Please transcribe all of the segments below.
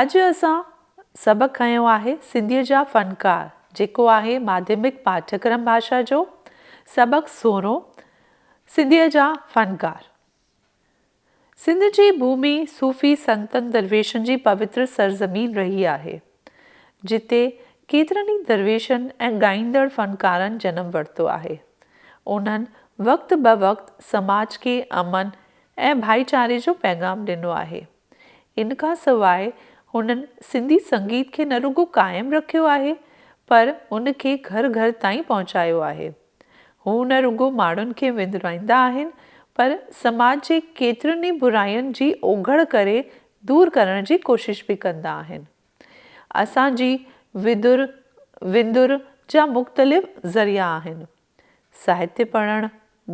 اڄ اسان سبق کنيو آهي سنڌيء جا فنڪار جيڪو آهي ماڌيمڪ پاٺڪرم ڀاشا جو سبق سورهون سنڌيء جا فنڪار سنڌ جي ڀومي صوفي سنتن درويشن جي پوتر سرزمين رهي آهي جتي ڪيترن ئي درويشن ۽ ڳائيندڙ فنڪارن جنم ورتو آهي انهن وقت بوقت سماج کي امن ۽ ڀائيچاري جو پيغام ڏنو آهي. ان کان سواء هنن سنڌي سنگيت کي نه رڳو قائم رکيو آهي پر ان کي گهر گهر تائين پهچايو آهي. هو نه رڳو ماڻهن کي وندرائيندا آهن پر سماج جي ڪيترين ئي براين جي اوگهڙ ڪري دور ڪرڻ جي ڪوشش به ڪندا آهن. اسان جي ويڌر، وندر، جا مختلف ذريعا آهن. ساهتيه پڙهڻ،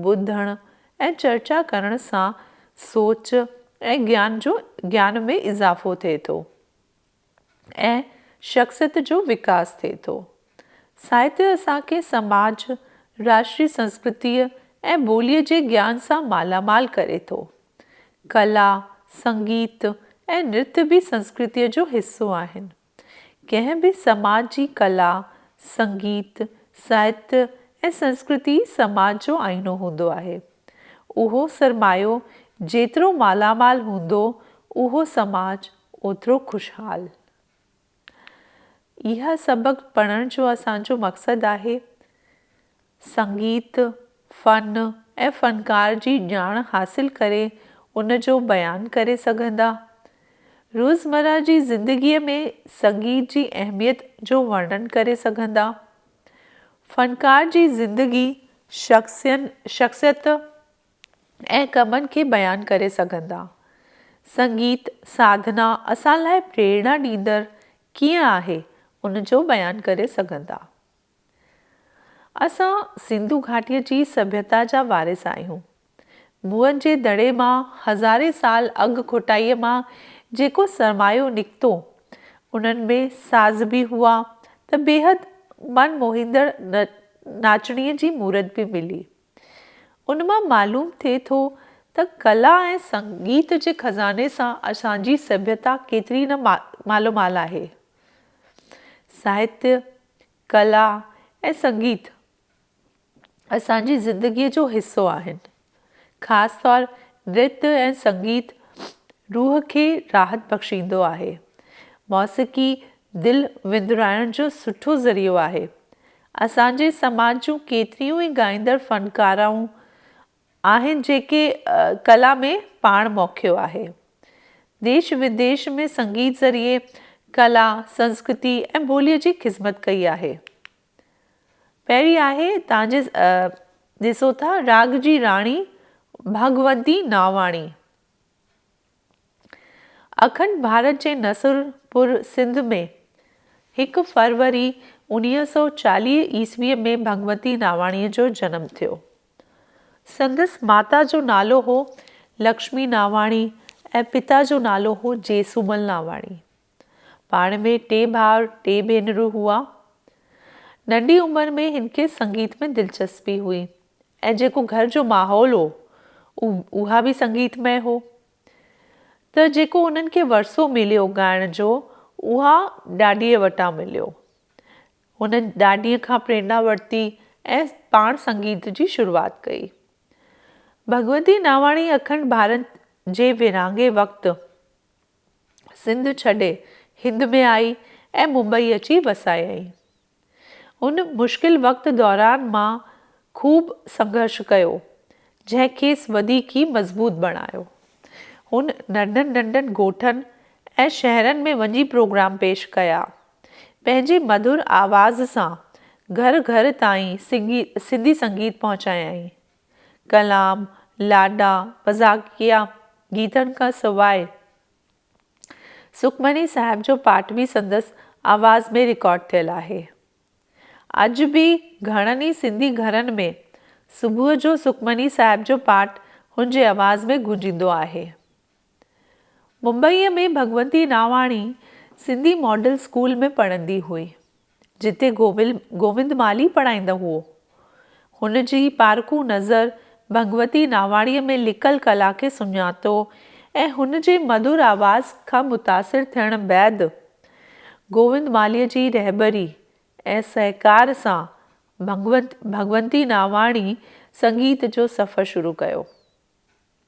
ٻڌڻ ۽ چرچا ڪرڻ سان سوچ ۽ گيان جو گيان ۾ اضافو ٿئي ٿو ۽ شخصيت جو وڪاس ٿئي ٿو. ساهتيه اسان کي سماج، راشٽري سنسڪرتيء ۽ ٻوليء جي گيان سان مالا مال ڪري ٿو. ڪلا، سنگيت ۽ نرت به سنسڪرتيء جو حصو آهن. ڪنهن به سماج جي ڪلا، سنگيت، ساهتيه ۽ سنسڪرتي ئي سماج جو آئينو هوندو آهي. اهو سرمايو جيترو مالامال هوندو، اهو سماج اوترو خوشحال. اها سبق پڙهڻ جو اسان جو مقصد آهي. سنگيت، فن ۽ فنڪار جي ڄاڻ حاصل ڪري ان جو بيان ڪري سگهندا. روزمره جي زندگيء ۾ سنگيت جي اهميت جو ورڻن ڪري سگهندا. فنڪار جي زندگي، شخصين، شخصيت ۽ ڪمن کي بيان ڪري سگهندا. سنگيت ساڌنا اسان لاء پريرڻا ڏيندڙ ڪيئن آهي، ان جو بيان ڪري سگهندا. اسان سنڌو گهاٽيء جي سڀيتا جا وارث آهيون. موئن جي دڙي مان هزارين سال اڳ کوٽائيء مان جيڪو سرمايو نڪتو، انهن ۾ ساز به هئا ته بيحد من موهيندڙ ناچڻيء جي مورت به ملي. ان مان معلوم ٿئي ٿو ته ڪلا ۽ سنگيت جي خزاني سان اسان جي سڀيتا ڪيتري نه مالومال آهي. ساهتيه، ڪلا ۽ سنگيت اسان جي زندگيء جو حصو آهن. خاص طور نرت ۽ سنگيت روح کي راحت بخشيندو آهي. موسيقي دل وندرائڻ جو سٺو ذريعو آهي. اسان جي سماج جون ڪيتريون ئي ڳائيندڙ فنڪارائون آهن جيڪي ڪلا ۾ پاڻ موکيو آهي. ديش وديش ۾ سنگيت ذريعي ڪلا، سنسڪرتي ۽ ٻوليء جي خذمت ڪئي آهي. پهرين آهي تان جي ڏسو ٿا راڳ جي راڻي ڀڳونتي ناواڻي. اکنڊ ڀارت جي نصر پور سنڌ ۾ هڪ فروري انويهه سؤ چاليهه عيسويء ۾ ڀڳونتي ناواڻيء جو جنم ٿيو. سندس ماتا جو نالو هو لڪشمي ناواڻي ۽ پتا جو نالو هو جيسومل ناواڻي. پاڻ ۾ ٽي ڀاء ٽي ڀينرون هئا. ننڍي عمر ۾ هن کي سنگيت ۾ دلچسپي هئي ۽ جيڪو گهر جو ماحول هو اها به سنگيت مئي هو ته جيڪو انهن کي ورثو مليو ڳائڻ جو اها ڏاڏيء وٽان مليو. هن ڏاڏيء کان پريرنا ورتي ۽ پاڻ سنگيت جي شروعات ڪئي. ڀڳوتي ناواڻي اکنڊ ڀارت جي ورهاڱي وقت سنڌ ڇڏي هند ۾ آئي ۽ ممبئي اچي وسايائين. ان مشڪل وقت دوران مان خوب سنگهرش ڪيو، جنهن کيس وڌيڪ ئي مضبوط بڻايو. هن ننڍن ننڍن ڳوٺن ۽ شهرن ۾ وڃي پروگرام پيش ڪيا ۽ پنهنجي مڌر آواز سان گهر گهر تائين سنڌي سنگيت پهچايائين. ڪلام، لاڏا، مذاقيا گيتن کان سواء سکمڻي صاحب جو پاٽ به سندس آواز ۾ رڪارڊ ٿيل آهي. اڄ به گهڻن ئي سنڌي گهرن ۾ صبح جو سکمڻي صاحب جو پاٽ هن جي آواز ۾ گونجيندو آهي. ممبئيء ۾ ڀڳونتي ناواڻي سنڌي ماڊل اسڪول ۾ پڙهندي هئي، جتي گوبل گووند مالهي پڙهائيندو هئو. هن جي پارکو نظر ڀڳونتي ناواڻيء ۾ لڪل ڪلا کي سڃاتو ۽ هن جي مڌر آواز کان متاثر ٿيڻ بعد گووند مالهيء جي رهبري ۽ سهڪار سان ڀڳونتي ناواڻي سنگيت جو سفر شروع ڪيو.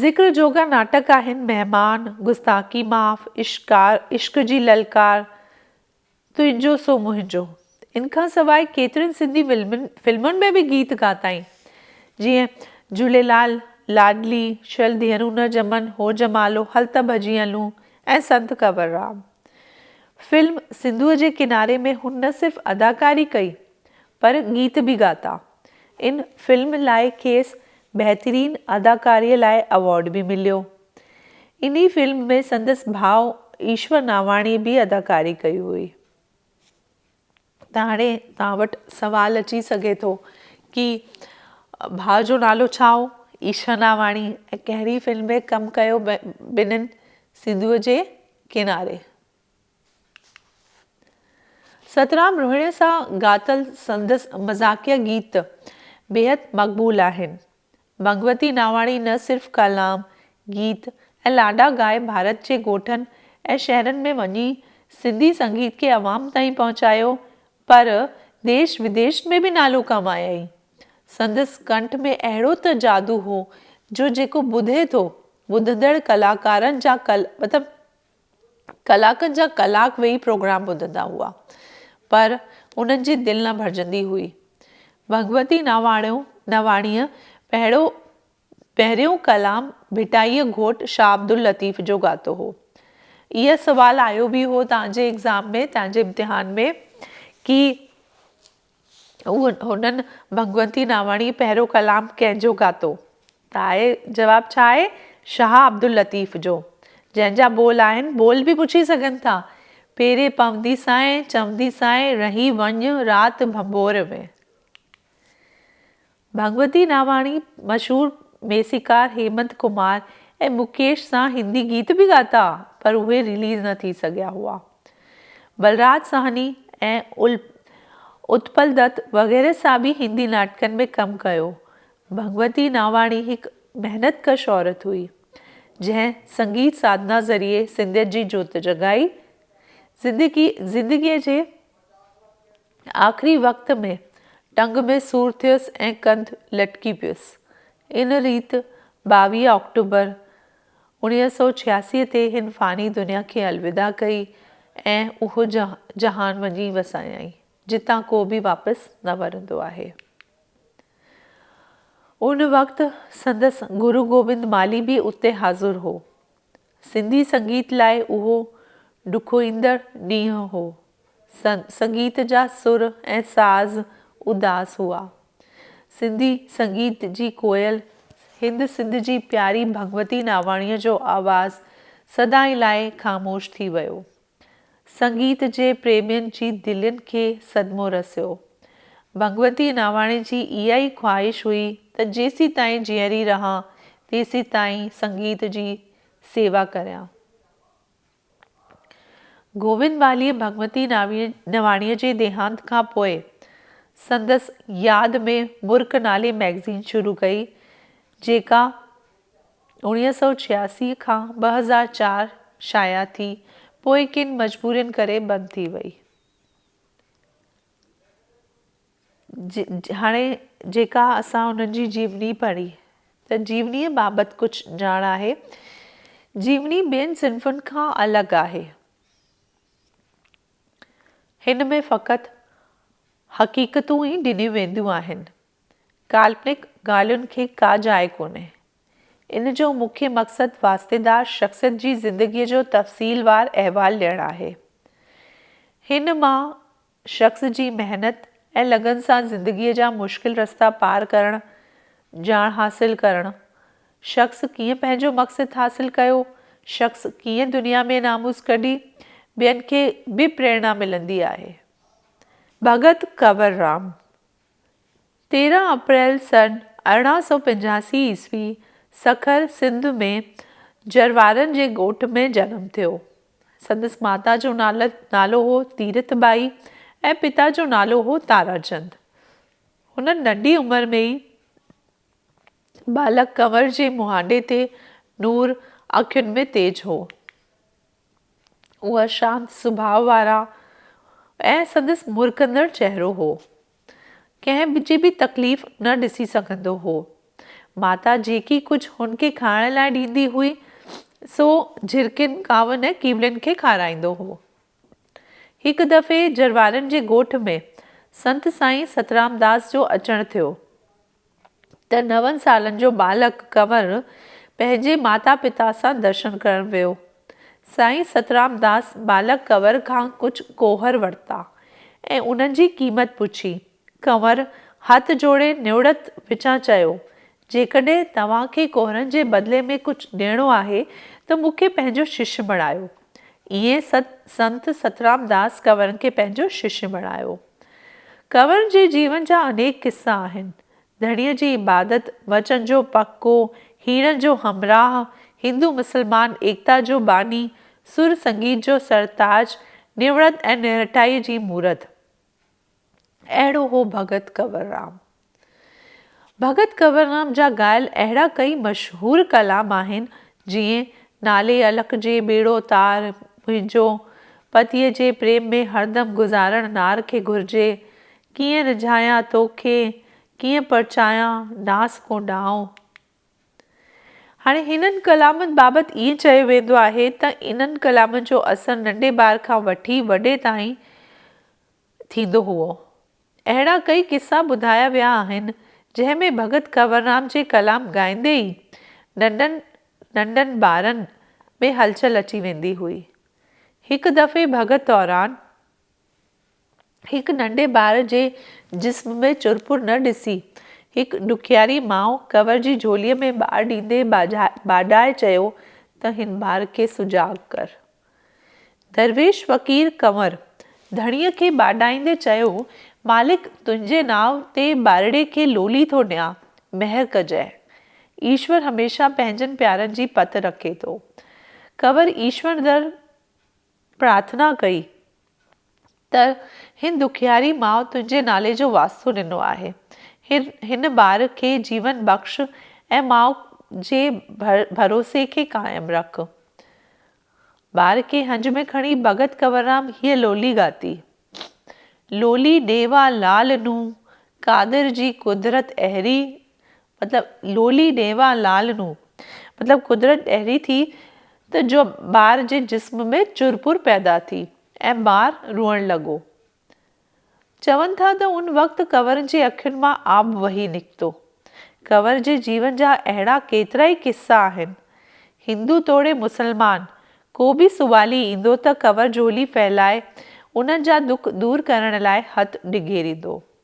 ذڪر جوڳا ناٽڪ آهن مهمان، گستاخي معاف، عشقار، عشق جي للڪار، تنهنجو سو منهنجو. ان کان سواء ڪيترين سنڌي فلمن ۾ به گيت ڳاتائين. جيئن، جهوليلال، لاڏلي، شل ڌيئرون نه ڄمن، هو جمالو، هل ته ڀڄي هلون ۽ سنت ڪنور رام. فلم سنڌوء جي ڪناري ۾ هن نه صرف اداڪاري ڪئي پر گيت به ڳاتا. ان فلم لاء کيس بهترين اداڪاري لاء ايوارڊ به مليو. انهي فلم ۾ سندس ڀاء ايشور ناواڻي به اداڪاري ڪئي هئي. ته هاڻي توهان وٽ سوال اچي سگهي ٿو ڪي ڀاء جو نالو ڇا هو ايشور ناواڻي ۽ ڪهڙي فلم ۾ ڪم ڪيو ٻنهن سنڌوء جي ڪناري. سترام روهيڻي سان ڳاتل سندس مذاقيه گيت بيحد مقبول آهن. ڀڳوتي ناواڻي نه صرف ڪلام، گيت ۽ لاڏا ڳائي ڀارت جي ڳوٺن ۽ شهرن ۾ وڃي سنڌي سنگيت کي عوام تائين پهچايو پر ديش وديش ۾ به نالو ڪمايائين. سندس ڪنٺ ۾ اهڙو ته جادو هو جو جيڪو ٻڌي ٿو ٻڌندڙ ڪلاڪارن جا قلب ڪلاڪن جا ڪلاڪ ويهي پروگرام ٻڌندا هئا، پر انهن جي دل نه ڀرجندي هئي. ڀڳوتي نواڻيو نواڻيء پهريو پهريون ڪلام ڀٽائيء گهوٽ شاهه عبداللطيف جو ڳاتو هو. اهي سوال آيو به هو تنهنجي ايگزام ۾ تنهنجي امتحان ۾ ڪي هنن ڀڳونتي ناواڻيء پهريون ڪلام ڪنهن جو ڳاتو؟ ته آء جواب ڇا آهي؟ شاهه عبداللطيف جو. جنهن جا ٻول آهن، ٻول به پڇي سگهن ٿا. پيري پوندي سانء، چوندي سانء، رهي وڃ رات ڀنڀور ۾. ڀڳوتي ناواڻي مشهور ميسيڪار هيمنت ڪمار ۽ مڪيش سان هندي گيت به ڳاتا پر اهي رليز نه ٿي سگهيا هئا. بلراج ساهني ۽ اتپل دت وغيره سان به هندي ناٽڪن ۾ ڪم ڪيو. ڀڳوتي ناواڻي هڪ محنت ڪش عورت هئي، جنهن سنگيت ساڌنا ذريعي سنڌيت جي جوت جڳائي، زندگيء جي آخري وقت ۾ ٽنگ ۾ سور ٿيس ۽ ڪنڌ لٽڪي پيس. ان ريت ٻاويهه آڪٽوبر اوڻيهه سؤ ڇياسي تي هن فاني دنيا کي الوداع ڪئي ۽ اهو جهان وڃي وسايائين، جتان ڪو به واپس نه ورندو آهي. ان وقت سندس گرو گوبند مالهي به اتي حاضر هو. سنڌي سنگيت لاء اهو ڏکوئيندڙ ڏينهن هو. سنگيت جا سر ۽ ساز اداس هئا. سنڌي سنگيت جي ڪوئل هند سنڌ جي پياري ڀڳوتي ناواڻيء جو آواز سدائين لاء خاموش ٿي ويو. سنگيت جي پريمين جي دلين کي صدمو رسيو. ڀڳونتي ناواڻي جي اها ئي خواهش هئي ته جيسيتائين جيئري رهان تيسيتائين سنگيت جي سيوا ڪريان. گووند واليء ڀڳونتي ناواڻيء جي ديهانت کان پوء سندس ياد ۾ مرڪ نالي مئگزين شروع ڪئي، جيڪا اڻيهه سؤ ڇياسي کان ٻه هزار چار شايع ٿي پوء ڪن مجبورين ڪري بند ٿي وئي هاڻي جيڪا اسان انهن جي جيوني پڙهي ته جيونيء بابت ڪجهه ڄاڻ آهي جيوني ٻين صنفن کان الڳ آهي هن ۾ فقط حقيقتون ئي ڏنيون وينديون آهن ڪالپنڪ ڳالهين کي ڪا جاء ڪونهي. ان جو مکيه مقصد واسطيدار شخصيت جي زندگيء جو تفصيلوار احوال ڏيڻ آهي. هن مان شخص جي محنت ۽ لگن سان زندگيء جا مشڪل رستا پار ڪرڻ، ڄاڻ حاصل ڪرڻ، شخص ڪيئن پنهنجو مقصد حاصل ڪيو، شخص ڪيئن دنيا ۾ ناموس ڪڍي، ٻين کي به پريرنا ملندي آهي. ڀڳت ڪنور رام تيرهن اپريل سن ارڙهن سؤ پنجاسي عيسوي سکر سنڌ ۾ جروارن جي ڳوٺ ۾ جنم ٿيو. سندس ماتا جو نالو هو تيرٿ ٻائي ۽ پتا جو نالو هو تاراچند. هن ننڍي عمر ۾ ئي ٻالڪ ڪنور جي مهانڊي تي نور اکين ۾ تيج هو. اهو شانت سڀاء وارا ۽ سندس مرڪندڙ چهرو هو. ڪنهن جي به تڪليف نه ڏسي سگهندو هو. ماتا جيڪي ڪجهه هن کي کائڻ لاء ڏيندي هئي، سو جهرڪين، ڪاون ۽ ڪيولين کي کارائيندو هو. هڪ دفعي جروارن جي ڳوٺ ۾ سنت سائين سترامداس جو اچڻ ٿيو. ته نون سالن جو ٻالڪ ڪنور پنهنجي ماتا پتا سان درشن ڪرڻ ويو. سائين سترامداس ٻالڪ ڪنور کان ڪجهه ڪوهر ورتا ۽ انهن جي قيمت پڇي. ڪنور هٿ جوڙي نوڙت وچان چيو، جيڪڏهن توهان کي ڪوهرن جي بدلي ۾ ڪجهه ڏيڻو آهي ته مون کي پنهنجو شش بڻايو. ائين سنت سترامداس ڪنور کي پنهنجو شش بڻايو. ڪنور جي جيون جا انيڪ قصا آهن. ڌڻيء جي عبادت، وچن جو پڪو، هيڻن جو همراهه، هندو مسلمان ايڪتا جو باني، سر سنگيت جو سرتاج، نوڙت ۽ نهٺائيء جي مورت. اهڙو هو ڀڳت ڪنور رام. ڀڳت ڪنوررام جا ڳايل اهڙا ڪئي مشهور ڪلام آهن، جيئن، نالي الڪ جي ٻيڙو تار، منهنجو، پتيء جي پريم ۾ هردم گذارڻ نار کي گهرجي، ڪيئن رجهايان تو کي، ڪيئن پرچايان، ناس ڪو ڏانء. هاڻي هنن ڪلامن بابت ائين چيو ويندو آهي ته انهن ڪلامن جو اثر ننڍي ٻار کان وٺي وڏي تائين ٿيندو هئو. اهڙا ڪئي قصا ٻڌايا ويا آهن، جنهن ۾ ڀڳت ڪنوررام جي ڪلام ڳائيندي ئي ننڍن ننڍن ٻارن ۾ هلچل اچي ويندي هئي. هڪ دفعي ڀڳت دوران هڪ ننڍي ٻار جي جسم ۾ چرپر نه ڏسي، هڪ ڏکياري ماء ڪنور جي جهوليء ۾ ٻار ڏيندي ٻاڏائي چيو ته هن ٻار کي سجاڳ ڪر. درويش فقير ڪنور ڌڻيء کي ٻاڏائيندي چيو، مالڪ تنهنجي ناء تي ٻارڙي کي لولي ٿو ڏيان، مهر ڪجئه. ايشور هميشه پنهنجن پيارن جي پت رکي ٿو. ڪنور ايشور در پرارٿنا ڪئي. ته هن دکياري ماء تنهنجي نالي جو واسطو ڏنو آهي. هن ٻار کي جيون بخش ۽ ماء جي ڀروسي کي قائم رک. ٻار کي هنج ۾ کڻي ڀڳت ڪنوررام هيء لولي ڳاتي. لولي ڏيوا لال نون قادر جي قدرت اهڙي مطلب لولي ڏيوا لال نو. مطلب قدرت اهڙي ٿي ته جو ٻار جي جسم ۾ چرپر پيدا ٿي ۽ ٻار روئڻ لڳو. چون ٿا ته ان وقت ڪنور جي اکين مان آب وهي نڪتو. ڪنور جي جيون جا اهڙا ڪيترائي قصا آهن. هندو توڙي مسلمان ڪو به سوڀالي ايندو ته ڪنور جهولي ڦهلائي انهن جا دک دور ڪرڻ لاء هٿ ڊگهيريندو.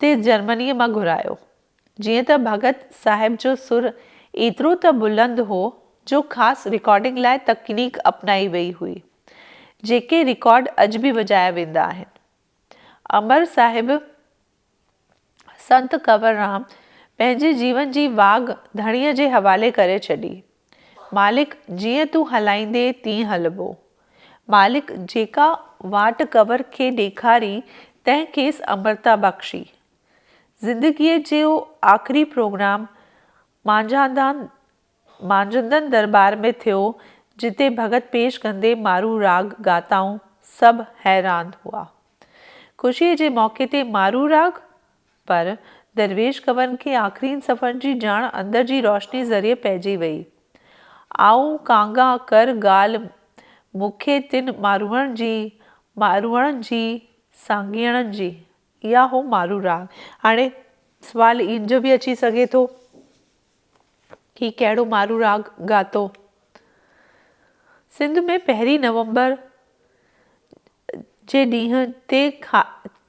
تي جرمنيء مان گهرايو. جيئن ته ڀڳت صاحب جو سر ايترو ته بلند هو جو خاص رڪارڊنگ لاء تڪنيڪ اپنائي ويئي هئي، جيڪي رڪارڊ اڄ به وڄايا ويندا آهن. امر صاحب سنت ڪنور رام پنهنجي جيون جي واڳ ڌڻيء جي حوالي ڪري ڇڏي. مالڪ، جيئن تون هلائيندي تيئن هلبو. مالڪ، جيڪا واٽ ڪنور کي ڏيکاري تنهن کيس امرتا بخشي. زندگيء جو آخري پروگرام مانجهاندان مانجهندن درٻار ۾ ٿيو، جتي ڀڳت پيش ڪندي مارو راڳ ڳاتائون، سڀ حيران هئا. خوشيء جي موقعي تي مارو راڳ؟ پر درويش گنور کي آخرين صفحن جي ڄاڻ اندر جي روشني ذريعي پئجي وئي. آئون ڪانگا ڪر ڳالهه مون کي تن ماروئڻ جي، ماروئڻ جي، سانگيئڻ جي. اها هو مارو راڳ. هاڻي سوال ان جو به اچي سگهي ٿو هي ڪهڙو مارو راڳ ڳاتو؟ سنڌ ۾ پهرين نومبر، جي ڏينهن تي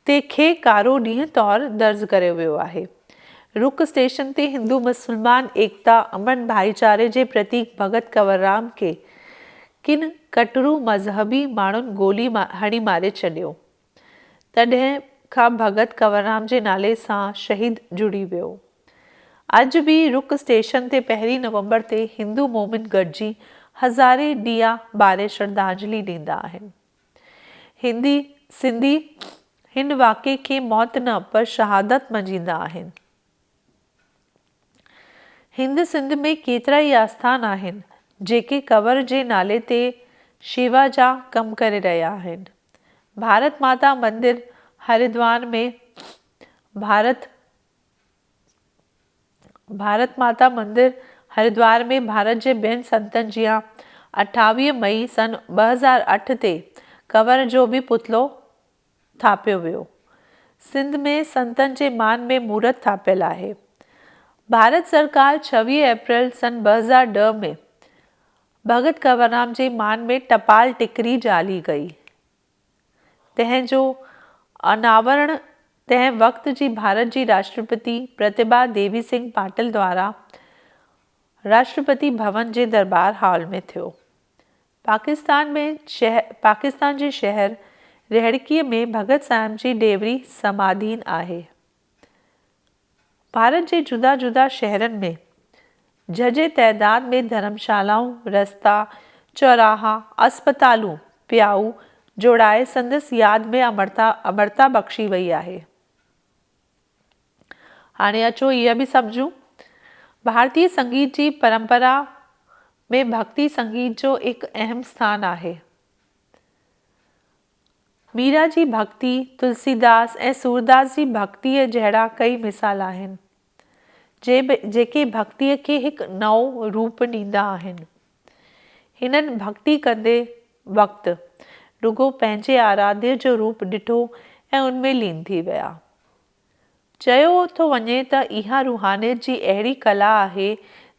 تي کي ڪارو ڏينهن طور درج ڪريو ويو آهي. رڪ اسٽيشن تي هندو مسلمان ايڪتا، امن ڀائيچاري جي پرتيڪ ڀڳت ڪنوررام کي ڪن ڪٽرو مذهبي ماڻهن گولي هڻي ماري ڇڏيو. تڏهن کان ڀڳت ڪنوررام جي نالي سان شهيد جڙي ويو. اڄ به رڪ اسٽيشن تي پهرين نومبر تي هندو مومن گڏجي هزارين ڏيئا ٻاري شرڌانجلي ڏيندا آهن. هندي سنڌي هن واقعي کي موت نه پر شهادت مڃيندا آهن. هند سنڌ ۾ ڪيترا ئي آستان آهن جيڪي ڪنور جي نالي تي شيوا جا ڪم ڪري رهيا آهن. ڀارت ماتا مندر هريدوار ۾ ڀارت. ڀارت ماتا مندر هريدوار ۾ ڀارت جي ٻين سنتن جيان اٺاويهه مئي سن ٻه هزار اٺ تي ڪنور جو به پتلو ٿاڦيو ويو. سنڌ ۾ سنتن جي مان ۾ مورت ٿاڦيل آهي. ڀارت سرڪار ڇويهه اپريل سن ٻه هزار ڏهه ۾ ڀڳت ڪنوررام جي مان ۾ ٽپال ٽڪري جعلي ڪئي. تنهن جو اناورڻ تنهن وقت جي ڀارت جي راشٽرپتي پرتيڀا ديوي سنگهه پاٽل دوارا راشٽرپتي ڀون جي درٻار هال ۾ ٿيو. پاڪستان ۾ پاڪستان جي شهر رهڙڪيء ۾ ڀڳت صاحب جي ڏيوري سماڌين آهي. ڀارت جي جدا جدا شهرن ۾ جهجهي تعداد ۾ ڌرمشالائون، رستا، چوراها، اسپتالون، پيائو جوڙائي سندس ياد ۾ امرتا امرتا بخشي وئي آهي. هاڻي اچو اها به سمجهون. ڀارتي سنگيت جي پرمپرا ۾ ڀڳتي سنگيت جو هڪ اهم ستان آهي. ميرا جي ڀڳتي، تلسيداس ۽ سورداس جي ڀڳتيء جهڙا ڪئي مثال آهن، جيڪي ڀڳتيء کي هڪ نئون روپ ڏيندا آهن. هنن ڀڳتي ڪندي وقت، رڳو پنهنجي آراڌي جو روپ ڏٺو ۽ ان ۾ لين ٿي ويا. چيو ٿو وڃي ته اها روحانيت جي اهڙي ڪلا آهي،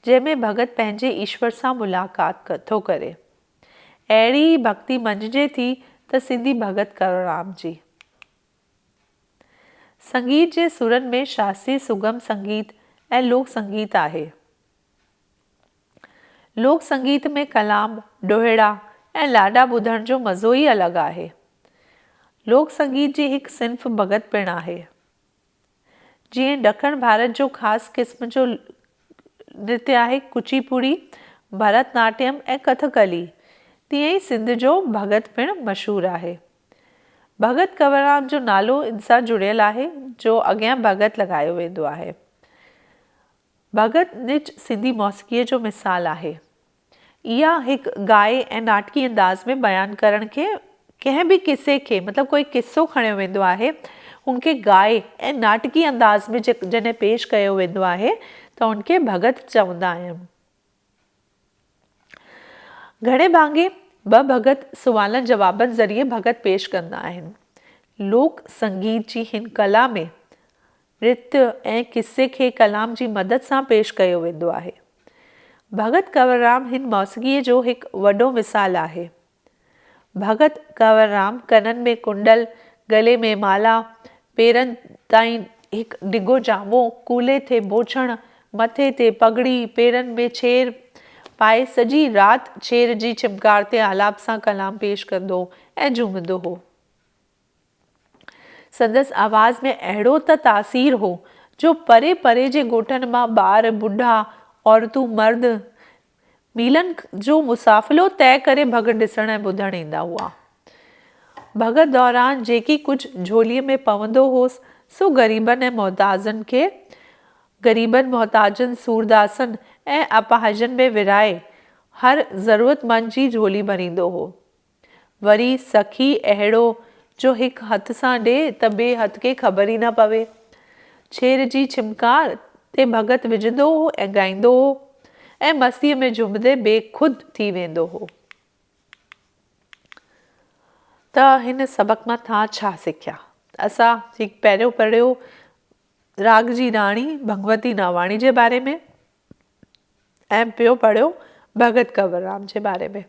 جنهن ۾ ڀڳت پنهنجي ايشور سان ملاقات ٿو ڪري. اهڙي ئي ڀڳتي مڃجي ٿي ته سنڌي ڀڳت ڪرورام جي. سنگيت جي سرن ۾ شاستري سگم سنگيت ۽ لوڪ سنگيت آهي. لوڪ سنگيت ۾ ڪلام، ڏوهيڙا ۽ لاڏا ٻڌڻ جو مزو ئي الڳ آهي. لوڪ سنگيت جي هڪ صنف ڀڳت پڻ آهي. جيئن ڏکڻ ڀارت جو خاص قسم جو نرتيه آهي ڪچي پوڙي، ڀرت ناٽيم ۽ ڪٿڪلي، تيئن ئي سنڌ جو ڀڳت پڻ مشهور آهي. ڀڳت ڪنوررام جو نالو ان سان جڙيل آهي جو اڳيان ڀڳت لڳايو ويندو آهي. ڀڳت نج سنڌي موسيقيء جو مثال آهي. اها هڪ گائي ۽ ناٽڪي انداز ۾ بيان ڪرڻ کي ڪنهن به قصي کي مطلب ڪوئي قصو کڻيو ويندو آهي ان کي گائي ۽ ناٽڪي انداز ۾ جڏهن پيش ڪيو ويندو آهي ته ان کي ڀڳت چوندا آهن. گهڻي ڀاڱي ٻه ڀڳت سوالن جوابن ذريعي ڀڳت پيش ڪندا آهن. لوڪ سنگيت جي هن ڪلا ۾ رت ۽ قصي کي ڪلام جي مدد سان پيش ڪيو ويندو آهي. ڀڳت ڪنوررام هن موسيقيء جو هڪ وڏو مثال آهي. ڀڳت ڪنوررام ڪنن ۾ ڪنڊل، ڳلي ۾ مالا، پيرن تائين هڪ ڊگهو جامو، ڪلهي تي بوڇڻ، مٿي تي پڳڙي، پيرن ۾ چير پائي سڄي رات چير جي چمڪار تي آلاپ سان ڪلام پيش ڪندو ۽ جهومندو هو. سندس آواز ۾ اهڙو ته تاثير هو، جو پري پري جي ڳوٺن مان ٻار، ٻڍا، عورتون، مرد ميلن جو مسافلو طئي ڪري ڀڳت ڏسڻ ۽ ٻڌڻ ايندا هئا. ڀڳت دوران جيڪي ڪجهه جهوليء ۾ پوندو هوس، سو غريبن ۽ محتاجن کي غريبن، محتاجن، سورداسن ۽ اپاهجن ۾ ورهائي، هر ضرورتمند جي جهولي ڀريندو هو. وري سخي اهڙو جو هڪ هٿ سان ڏي ته ٻئي هٿ کي خبر ئي نه پوي. ڇير جي ڇمڪار تي ڀڳت وجهندو هو ۽ ڳائيندو هو ۽ مستيء ۾ جهومندي بي خود ٿي ويندو هو. ته هن سبق مان ٿا ڇا سکيا؟ اسان هڪ پيرو پڙهيو راڳ جي راڻي ڀڳوتي ناواڻي جي باري ۾ ۽ ٻيو پڙهيو ڀڳت ڪنوررام جي باري ۾.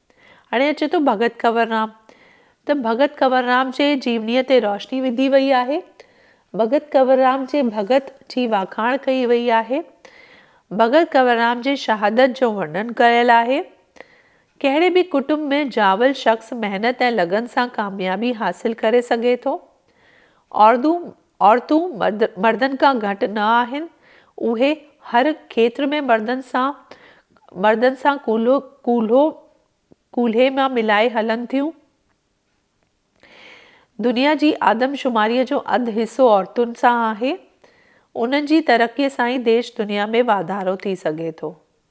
هاڻي اچي ٿو ڀڳت ڪنوررام ته ڀڳت ڪنوررام جي جيونيء تي روشني وڌي وئي آهي. ڀڳت ڪنوررام جي ڀڳت جي واکاڻ ڪئي وئي آهي. ڀڳت ڪنوررام جي شهادت جو ورنن ڪيل آهي. ڪهڙي به ڪٽنب ۾ ڄاول شخص محنت ۽ لگن سان ڪاميابي حاصل ڪري سگهي ٿو. اوردو عورتون مردن کان گهٽ نه آهن، اهي هر کيتر ۾ مردن سان مردن سان ڪلهو ڪلهي مان ملائي هلن ٿيون. دنيا جي آدمشماريء جو اڌ حصو عورتن سان آهي، انهن جي ترقيء سان ئي ديش دنيا ۾ واڌارو ٿي سگهي ٿو.